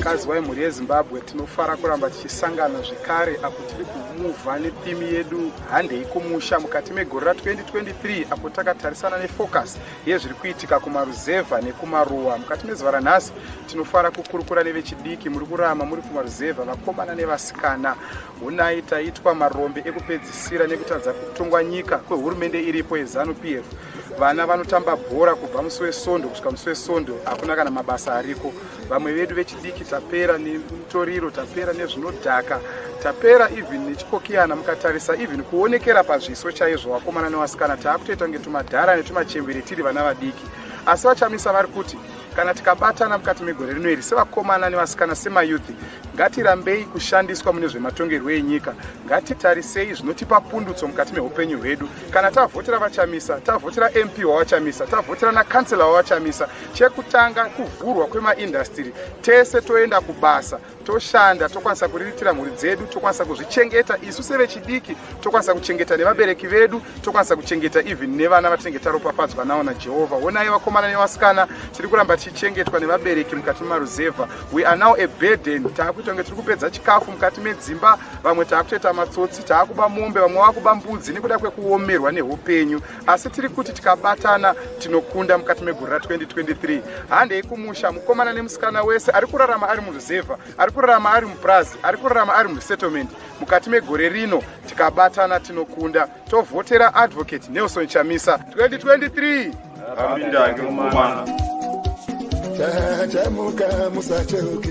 vakadzi vemhuri yezimbabwe tinofara kuramba tichisangana zvekare apo tiri kumuvha netheme yedu handei kumusha mukati megore ra 2023 apo takatarisana nefocus yezviri kuitika kumaruzevha nekumaruwa mukati mezuva ranhasi tinofara kukurukura nevechidiki muri kurama muri kumaruzevha vakomana nevasikana hunai taitwa marombe ekupedzisira nekutadza kutongwa nyika kwehurumende iripo yezanu p f vana vanotamba bhora kubva musi wesondo kusvika musi wesondo hakuna kana mabasa ariko vamwe vedu vechidiki tapera nemutoriro tapera nezvinodhaka tapera even nechikokiyana mukatarisa even kuonekera pazviso chaizvo vakomana nevasikana taakutoita kunge tumadhara netumachembere tiri vana vadiki asi vachamisa vari kuti kana tikabatana mukati megore rino iri sevakomana nevasikana semayuthi ngatirambei kushandiswa mune zvematongerwo enyika ngatitarisei zvinotipa pundutso mukati meupenyu hwedu kana tavhotera vachamisa tavhotera mp wavachamisa tavhotera nakansela wavachamisa chekutanga kuvhurwa kwemaindastiri tese toenda kubasa toshanda tokwanisa kuriritira mhuri dzedu tokwanisa kuzvichengeta isu sevechidiki tokwanisa kuchengeta nevabereki vedu tokwanisa kuchengeta even nevana vatinenge taropafadzwa nawo najehovha wonai vakomana nevasikana tiri kuramba tichichengetwa nevabereki mukati memaruzevha we are now a burden taakuita kunge tiri kupedza chikafu mukati medzimba vamwe taakutoita matsotsi taakuba mombe vamwe vakuba mbudzi nekuda kwekuomerwa neupenyu asi tiri kuti tikabatana tinokunda mukati megore ra 2023 handei kumusha mukomana nemusikana wese ari kurarama ari muruzevha ari kurarama ari mupurazi ari kurarama ari musettlement mukati megore rino tikabatana tinokunda tovhotera advocate nelson chamisa 2023 Amin, danke, Mama. Tajamuka musacheuke